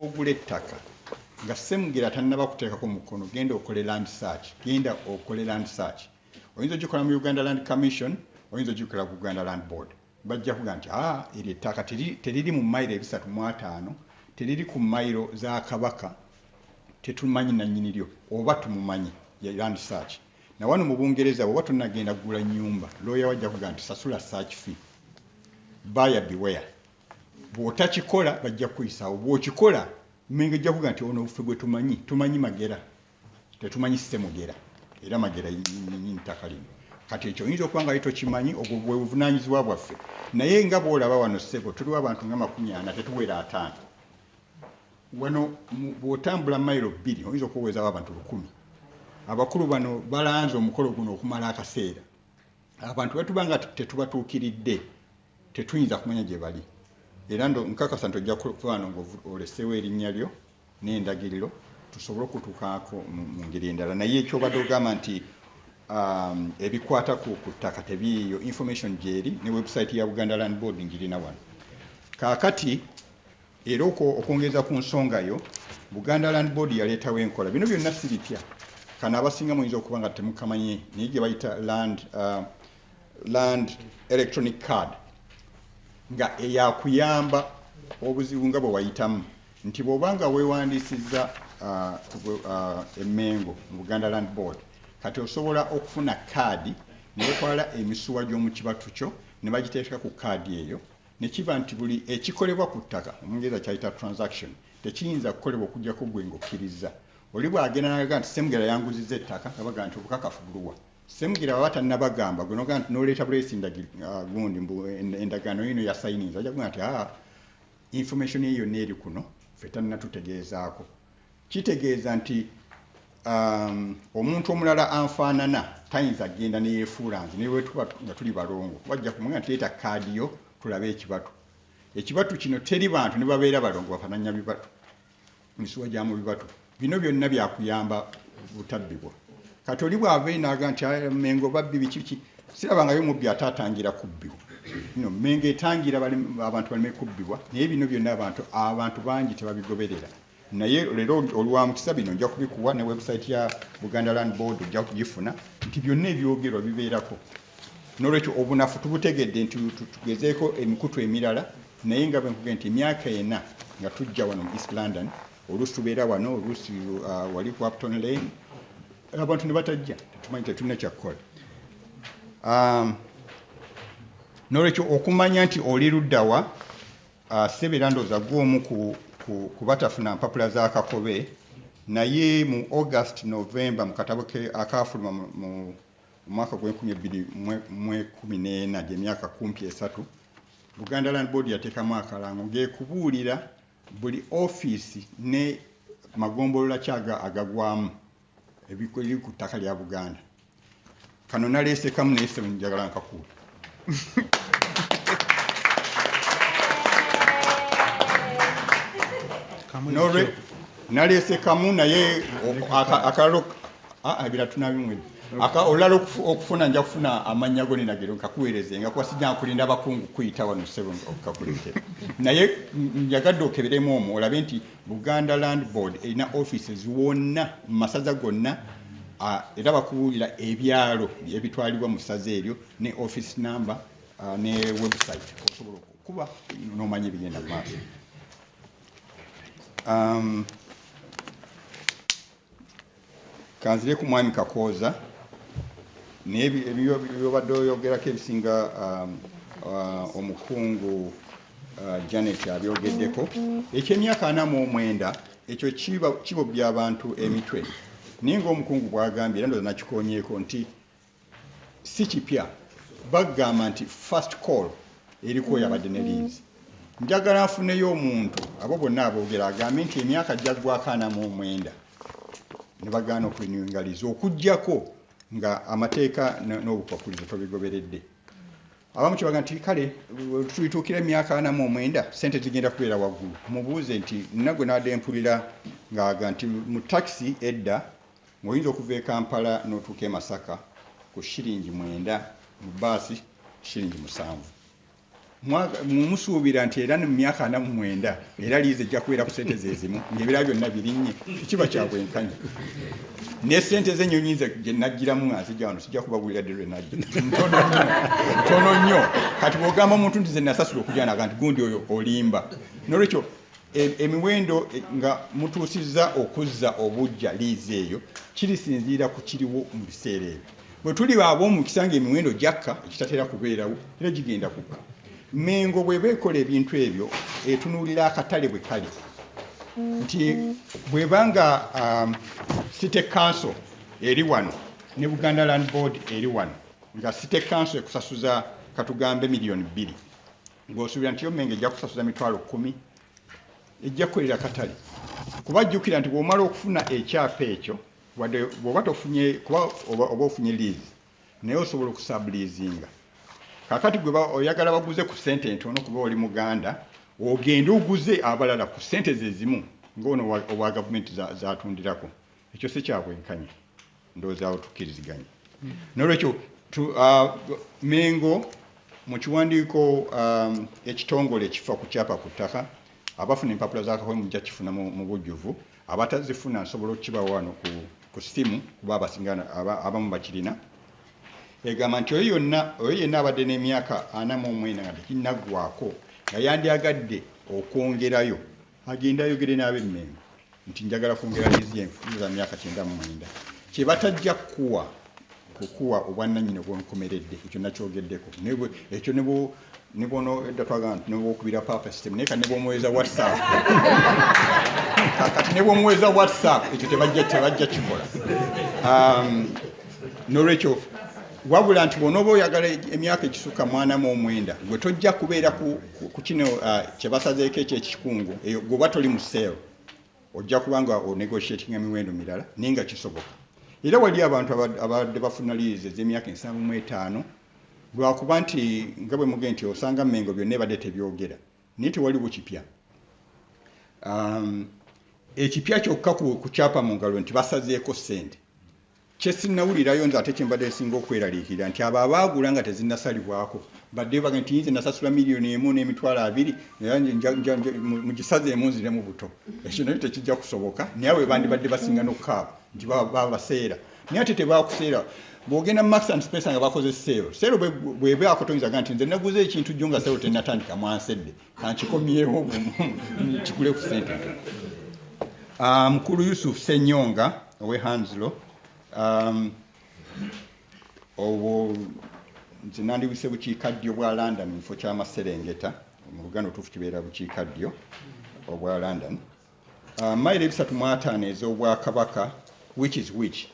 ogula ettaka nga semugera tannaba kuteekako mukono genda okole land search genda okole land search oyinza ogikola mu uganda land commission oyinza ogikola ku uganda land board bajja kuga nti a ah, eryo ettaka teriri mu mayiro ebisatu mu ataano teriri ku mayiro za kabaka tetumanyi nanyini lyo oba tumumanyi ye land search na wano mu bungereza bwoba tonagenda kugula nyumba looya wajja kuga nti sasula search fee baya beware bwotakikola bajja kukuyisaawo bwokikola mengo ejja kuga nti ono ffe gwetumanyi tumanyi magera tetumanyi semugera era magera yinyinyi ntaka lino kati ekyo oyinza okuba nga yitokimanyi obwo bwebuvunanyizibwa bwaffe naye nga bwolaba wano sebo tuliwo abantu nga makumi ana tetuwera ataano wano bwotambula mailo bbiri oyinza okuwewezawo abantu lukumi abakulu bano balanze omukolo guno okumala akaseera abantu bwetuba nga tetubatuukiridde tetuyinza kumanya gye bali era nkakasa nti ojja kuba no ngaoleseewo erinnya lyo n'endagiriro tusobole okutukaako mu ngeri endala naye ekyobadde ogamba nti um, ebikwata ku ttaka tebiiyo information gyeri ne website ya buganda land board ngirina wano kaakati Era okwo okwongereza ku nsonga yo, Buganda Land Board yaleetawo enkola. Bino byonna si bipya. Kano abasinga muyinza okuba nga temukamanyi naye gye bayita land, uh, land electronic card nga eyakuyamba obuzibu nga bwe wayitamu nti bw'oba nga weewandiisizza uh, uh, emmengo mu Buganda Land Board kati osobola okufuna kaadi ne batwala emisuwa gy'omu kibatu kyo ne bagiteeka ku kaadi eyo ne kiba nti buli ekikolebwa ku ttaka, Omungereza ky'ayita transaction, tekiyinza kukolebwa okuggyako ggwe ng'okkirizza. Oli bw'agenda n'agamba nti Ssemugera yanguzizza ettaka, nga bagamba nti obukakafu buluwa? Ssemugera bw'aba tannabagamba, ggwe n'ogamba nti n'oleeta buleesi ndagir, ah, gundi mbu endagaano yiino yasayininze, ajja kugamba nti haa, information ye yonna eri kuno, ffe tannatutegeezaako. Kitegeeza nti um, omuntu omulala anfaanana tayinza kgenda neyefuula nze naye wetuba nga tuli balongo kuba ajja kumugenda nti leeta kaadi yo tulabe ekibatu ekibatu kino teri bantu ne babeera balongo bafananya bibatu misuwa gya mu bibatu bino byonna byakuyamba butabbibwa kati oli bwava enaaga nti mengo babbi bikiki sirabangayo mubbi ate atangira kubbibwa no mengo etangira abantu baleme kubbibwa naye bino byonna abantu abantu bangi tebabigoberera naye lero olwa mukisa bino nja kubikuwa ne website ya Buganda Land Board ojja kugifuna nti byonna ebyogerwa bibeerako nolwekyo obunafu tubutegedde nti tugezeeko emikutu emirala naye nga bwenkugee nti emyaka ena nga tujja wano mu East London oluusi tubeera wano oluusi uh, wali ku Upton Lane abantu ne batajja tetumanyi tetulina kyakukola um, nolwekyo okumanya nti oli luddawa Ssebo era ndowooza gwe omu ku ku batafuna mpapula za Kakobe naye mu August November mu katabo ke akaafuluma mu mwaka gw'enkumi ebbiri mu ekumi n'ena gy'emyaka kumpi esatu Buganda Land Board yateekamu akalango ng'ekubuulira buli ofiisi ne magombolola ki agagwamu ebiri ku ttaka lya Buganda. kano naleese kamu naye sebo njagala nkakuwa nolwe naleese kamu naye akalalo ebira tunabimwe aka olala okufuna nja kufuna amanya go ninagero nkakuwereze nga kwa sija kulinda bakungu kuita wano sebo okakulete naye njagadde okeberemu omu olabe nti Buganda Land Board erina offices wonna mu masaza gonna era bakubuulira ebyalo ebitwalibwa mu ssaza eryo ne office number ne website osobola okukuba n'omanya ebigenda mu maaso. Um, kanzire ku mwami kakooza naye byobadde oyogerako ebisinga um, uh, omukungu uh, janet abyogeddeko ekyemyaka ana mu omwenda ekyo kibobya abantu emitwe naye ngaomukungu bwagambye era ndoza nakikonyeeko nti Si kipya bagamba nti first call eriko yabadde ne linzi. Njagala nfuneyo omuntu abo bonna aboogera agambe nti emyaka gyaggwako ana mu omwenda ne bagaana okurinewinga liizi okuggyako nga amateeka n'obukwakkulizo tobigoberedde abamu kyebaga nti kale tulituukira emyaka ana mu omwenda sente zigenda kubeera waggulu mubuuze nti nagwe naade mpulira ngaaga nti mu takisi edda Ng'oyinza okuva e Kampala n'otuuka e Masaka ku shilingi mwenda, mu bbaasi shilingi musanvu. Musuubira nti era mu myaka ana mu mwenda era liizi ejja kubeera ku ssente ze zimu ng'ebirala byonna birinnye? Tekiba kya bwenkanya. Ne ssente z'ennyonyi nze gye naggyiramu nga nzija wano sijja kubagulira dde lwe najja ntono nnyo ntono nnyo kati bw'ogamba omuntu nti ze nasasula okujanaga nti gundi oyo olimba n'olwekyo E, emiwendo e, nga mutuusizza okuzza obujja liizi eyo kirisinziira ku kiriwo mu biseera ebyo bwe tuli baaba omukisa nga emiwendo gyakka ekitatera kubeerawo era gigenda kukka mengo bweba ekola ebintu ebyo etunuulira akatale bwe kali nti bweba nga um, city council eri wano ne buganda land board eri wano nga city council ekusasuza katugambe miliyoni bbiri ng'osuubira nti yo mmengo ejja kusasuza mitwalo kkumi ejja kukolera katale kuba jjukira nti bw'omala okufuna ekyapa ekyo wadde bw'oba tofunye kuba oba ofunye liizi naye osobola okusabuliizinga kakati gwe oyagala baguze ku ssente entono kuba oli muganda ogende oguze abalala ku ssente ze zimu ng'ono owa gavumenti zatundirako Ekyo si kya bwenkanya, ndowooza awo tukkiriziganya. N'olwekyo uh, Mengo mu kiwandiiko um, ekitongole ekifa ku kyapa ku ttaka abafuna empapula za kawe mujja kifuna mu bujjuvu abatazifuna nsobola okukiba wano ku simu kuba abasinga abamu bakirina egamba nti oyo yonna oyo yenna abadde n'emyaka ana mu omwena nga tekinaggwako nga yandyagadde okwongerayo Agende ayogere n'ab'e Mmengo nti njagala kwongera liizi y'enfuufu za myaka kyenda mu mwenda. Kye batajja kukuwa kukuwa obwannannyini obw'olukomeredde. Ekyo nakyogeddeko. Ekyo ne ne bwonodda twagamba nti newokubira papa system naye kati ne bwomuweza whatsapp kati ne bwomuweza whatsapp ekyo tebajja tebajja kikola um, nolwekyo wabula nti bwonoba oyagala emyaka ekisuka mwana mu omwenda gwe tojja kubeera ku kukino uh, kyebasazeeko ekyo ekikungu eyo gwoba toli mu sale ojja kubanga onegotiatinga miwendo mirala naye nga kisoboka era wali abantu abadde bafuna liizi ez'emyaka ensanvu mu etaano lwakuba nti nga bwe muge nti osanga mengo byonna ebadde tebyogera naye tewaliwo kipya um, ekipya kyokka ku kyapa mu ngalo nti basazeeko ssente Kye sinnawulirayo nze ate kye mbadde nsinga okweraliikirira nti abo abaagula nga tezinnasalibwako baddeyo bagende nti yinze nasasula miliyoni emu n'emitwalo abiri mugisazeemu nziremu buto ekyo naye tekijja kusoboka naye abo bandibadde basinga n'okukaaba nti babaseera naye ate tebaakuseera bw'ogenda max and space nga bakoze seero seero bwebaakotoyinza ga nti nze naguze ekintu jjo nga seero tennatandika mwansedde kankikomyewo kikule ku sente ah, mukulu yusuf senyonga owe hanslo um, obwo nze nandiwise bukiika ddyo bwa london mukifo kyamaserengeta mu luganda otuufu kibeera bukiika ddyo obwa london ah, mayiro ebisatu mwataano ez'obwakabaka which is which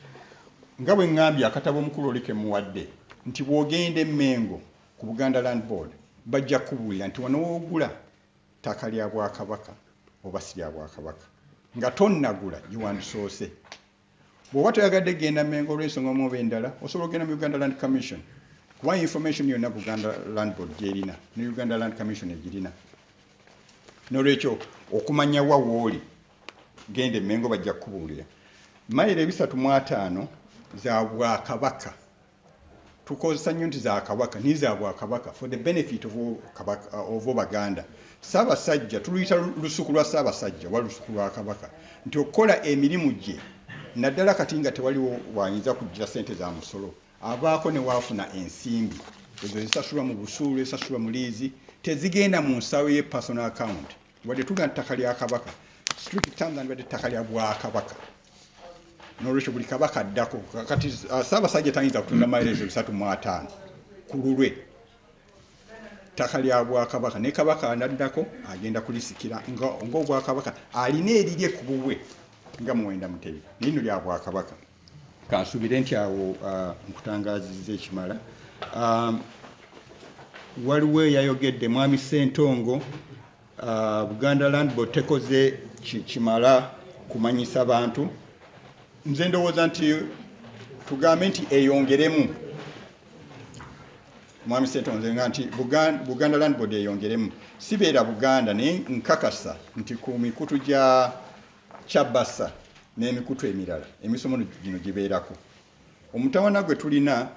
nga bwe ŋŋambye akatabo omukulu oli kemuwadde nti bw'ogenda emmengo Ku Buganda Land Board bajja kukubuulira nti wano w'ogula ttaka lya Bwakabaka oba si lya Bwakabaka nga tonnagula gye wandisoose. Bw'oba toyagadde kugenda Mmengo olw'ensonga omu oba endala, osobola okugenda mu Uganda Land Commission kuba information yonna Buganda Land Board gy'erina ne Uganda Land Commission egirina. N'olwekyo okumanya wa wooli genda e Mmengo bajja kukubuulira. Mayiro ebisatu mu ataano za Bwakabaka. tukozesa nnyo nti za kabaka naye za bwakabaka for the benefit of obaganda ssaabasajja tuluyita lusuku lwa ssaabasajja oba lusuku lwa kabaka nti okukola emirimu gye naddala kati nga tewaliwo wayinza kujjira sente za musolo abaako newaafuna ensimbi ezo zisasulwa mu busuulu esasulwa mu liizi tezigenda mu nsawo ye personal account wadde tugana ttaka lya kabaka street terms and wadde ttaka lya bwakabaka nolwekyo buli kabaka addako kati uh, saabasajja tayinza kutunda mairezo bisatu mu ataano ku lulwe ttaka lya bwakabaka ne kabaka anaddako agenda kulisikira ngaobwakabaka alina erirye ku bubwe nga muwenda mutebi nino lya bwakabaka kansubire nti awo uh, nkutangaziza ekimala um, waliwo eyayogedde mwami sentongo Uh, Buganda Land Board tekoze kimala kumanyisa bantu. Nze ndowooza nti tugambe nti eyongeremu mwami Ssetonze nga nti Buganda, Buganda Land Board eyongeremu sibeera Buganda naye nkakasa nti ku mikutu gya Chabasa n'emikutu emirala emisomo gino gibeerako. Omutawana gwe tulina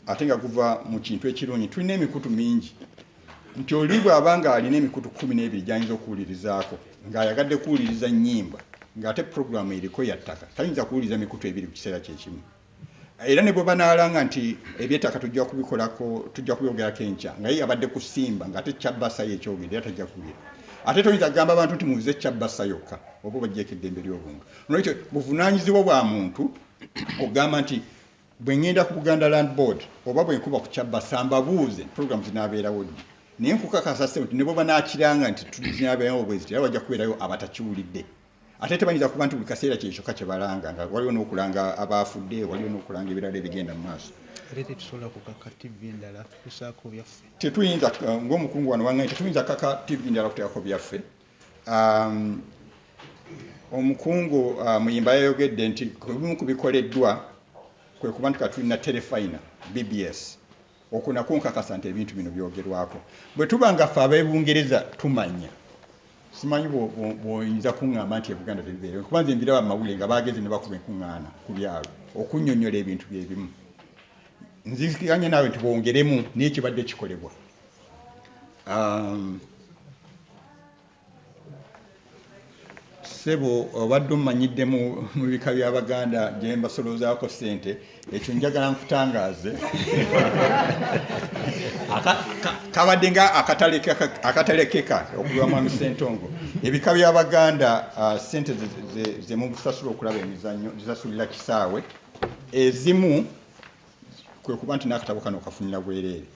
ate nga guva mu kintu ekirungi, tulina emikutu mingi nti oli bw'aba ng'alina emikutu kkumi n'ebiri gy'ayinza okuwulirizaako ng'ayagadde kuwuliriza nnyimba ng'ate puroguramu eriko ya ttaka tayinza kuwuliriza mikutu ebiri ku kiseera kye kimu era ne bwe banaalanga nti ebyettaka tujja kubikolako tujja kubyogerako enkya nga ye yabadde kusimba ng'ate kyabbasayo ekyogende era tajja kuwulira ate toyinza kugamba abantu nti muze kyabbasa yokka oba obajjeeko eddembe ly'obuntu nolwekyo buvunaanyizibwa bwa muntu ogamba nti bwe ŋŋenda ku buganda land board oba bwe nkuba ku kyabbasa mbabuuze programu zinaabeerawo ddi naye nkukakasa ssebo nti ne bwe banaakiranga nti zinabeerawo bwe zitera wajja kubeerayo abatakiwulidde ate tebayinza kuba nti buli kaseera kye kyokka kye balanga nga waliwo n'okulanga abaafudde waliwo n'okulanga ebirala ebigenda mu maaso tetuyinza ng'omukungu wano waŋŋanyi tetuyinza kaka tivi ndala kuteekako byaffe Um, omukungu uh, muyimba yayogedde nti kubimu ku bikoleddwa kwe kuba nti katulina telefina bbs okwo nakwo nkakasa nti ebintu bino byogerwako bwe tuba nga ffe abebungereza tumanya simanyi bwoyinza kuŋŋamba nti ebuganda tebibeereo kuba nze mbiraba mawule nga bagezi ne bakuba enkuŋŋaana ku byalo okunyonyola ebintu byebimu nzikanya naawe nti bwongeremu naye kibadde kikolebwa Um, sebo obadde omanyidde mu bika by'abaganda gye mbasoloozaako ssente ekyo njagala nkutangaaze kabadde nga akatalekeka okuva mwami sentongo ebika by'abaganda uh, ssente ze mubusasula okulaba emizannyo zisasulira kisaawe ezimu kwe kuba nti n'akatabo kano kafunira bwereere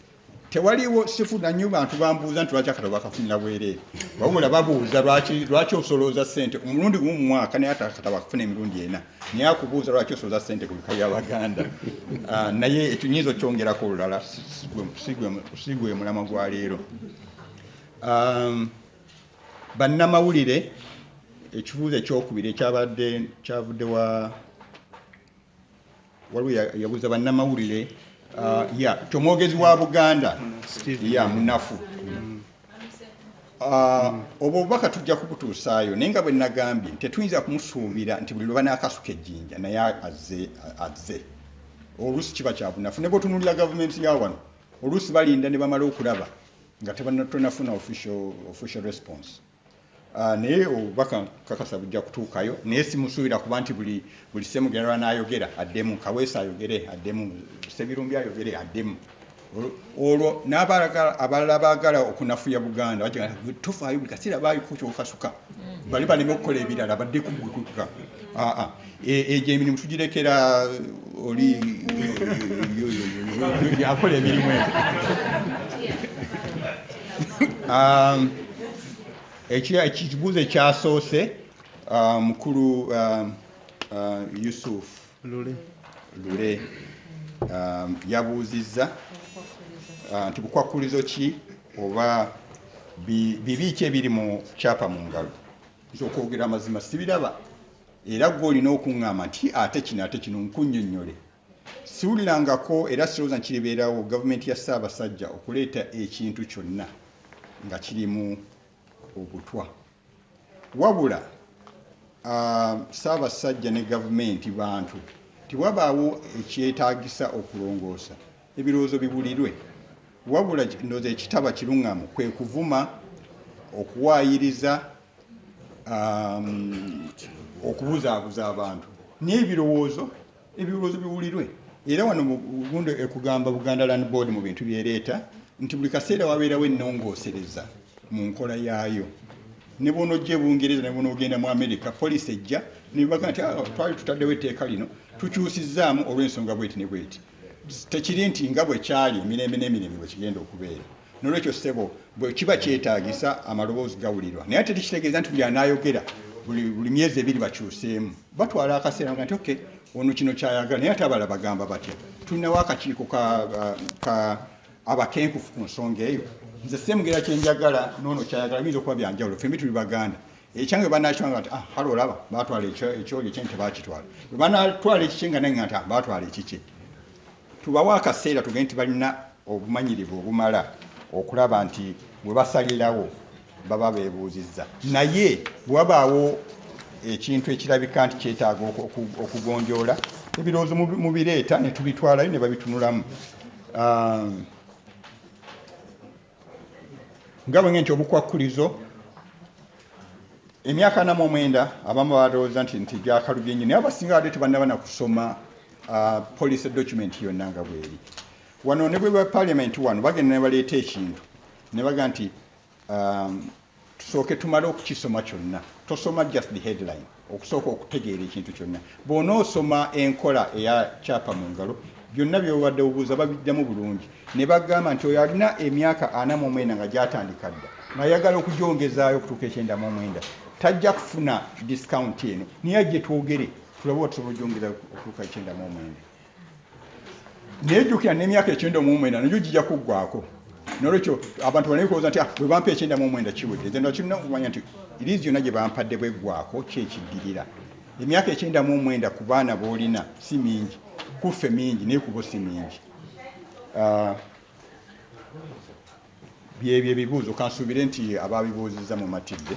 tewaliwo sifunanyo bantu bambuuza nti lwaki akatabo bakafunira bwereere wabula babuuza lwaki osolooza sente omulundi gumu mumwaka naye ate akatabo akafuna emirundi ena naye akubuuza lwaki osolooza sente kulika ya baganda ah, naye ekyo nyinza okyongerako olulala sigwe mulama gwa leero ah, bannamawulire ekibuuzo ekyokubiri ekyabadde kyavudde wa waliwo yabuza bannamawulire uh, ya kyomwogezi wa buganda ya munafu mm. uh, obwo obubaka tujja kubutuusaayo naye nga bwe nagambye tetuyinza kumusuubira nti buli lwebanakasuka ejjinja naye azze azze oluusi kiba kyabunafu ne bwetunulira gavumenti ya wano oluusi balinda ne bamala okulaba nga tebanattonafuna official response Ah, naye obubaka kakasa bujja kutuukayo naye simusuubira kuba nti buli buli semugera lwanaayogera addemu kaweesa ayogere addemu sebirumbi ayogere addemu olwo abalala baagala okunafuya buganda tofaayo buli kaseera baayokukasuka mm. bali baleme okukola ebirala badde kugutuka aa ah, ah. egyo e, emirimu tugirekera uh, oli akola emirimu egyo um, ekibuuzo ekyasoose uh, mukulu um, uh, yusuf lule um, yabuuzizza nti bukwakkulizo ki oba bibi ki ebiri mu kyapa mu ngalo nti okwogera amazima sibiraba Era gwe olina okuŋŋamba nti ate kino ate kino nkunnyonnyole. Siwulirangako era sirowooza nti kiribeerawo gavumenti ya Ssaabasajja okuleeta ekintu kyonna nga kirimu obutwa. Wabula Ssaabasajja ne gavumenti bantu nti wabaawo ekyetaagisa okulongoosa, ebirowoozo biwulirwe. Wabula ndowooza ekitaba kiruŋŋamu kwe kuvuma, okuwaayiriza. um, okubuzaabuza abantu n'ebirowoozo ebirowoozo biwulirwe era wano mugundo ekugamba buganda land board mu bintu byereeta nti buli kaseera wabeerawo ennongoosereza mu nkola yaayo ne bwonojja ebungereza ne bwonoogenda mu amerika poliisi ejja nebaga nti ah, twali tutaddewo etteeka lino tukyusizaamu olw'ensonga bweti ne bweti tekiri nti nga bwe kyali emirembe n'emirembe bwe kigenda okubeera Nolwekyo ssebo bwekiba kyetagisa amaloboozi gawulirwa naye ate tekitegeeza nti buli anayogera buli myezi ebiri bakyuseemu batwala akaseera nga nti ok ono kino kyayagala naye ate abala bagamba batya tulinawo akakiiko ka abakenkufu ku nsonga eyo nze semugera kyenjagala nono kyayagala biyinza okuba byanjawulo fembi tuli baganda ekyange banakiwanga nti ah, hale olaba batwala ekyoli ekyenyi tebakitwala bwebanatwala ekikye nga naye nga nti ah, batwala ekikye Tubawa akaseera tugende nti balina obumanyirivu obumala okulaba nti bwe basalirawo baba beebuuzizza. Naye bwe wabaawo ekintu ekirabika nti kyetaaga okugonjoola ebirowoozo mubireeta ne tubitwalayo ne babitunulamu. Um, nga bwe nti obukwakkulizo emyaka anamu omwenda abamu balowooza nti nti gyakalubye nnyo naye abasinga badde tebannaba na kusoma ah, policy document yonna nga bweri wano ne bwe ba parliament wano bagenda ne baleeta ekintu ne baga nti um, Tusooke tumale okukisoma kyonna. Tosoma just the headline. Okusooka okutegeera ekintu kyonna. Bw'onoosoma enkola eya kyapa mu ngalo, byonna by'obadde obuuza babiddamu bulungi ne bagamba nti oyo alina emyaka ana mu omwenda nga gyatandika dda ng'ayagala okugyongezaayo okutuuka ekyenda mu omwenda tajja kufuna disikaunti eno naye ajje twogere tulabe oba tusobola ogyongeza okutuuka ekyenda mu omwenda naye jjukira n'emyaka ekyenda mu omwenda nagyo gijja kuggwako nolwekyo abantu baleme kulowoza nti ah, bwe bampa ekyenda mu omwenda kiwedde then bakirina okumanya nti iriizi yonna gye bampadde bweggwako kyekiddirira emyaka ekyenda mu omwenda ku baana boolina si mingi kuffe mingi naye kubo si mingi ah, byebyo ebibuuzo kansuubire nti ababibuuzizza mumatidde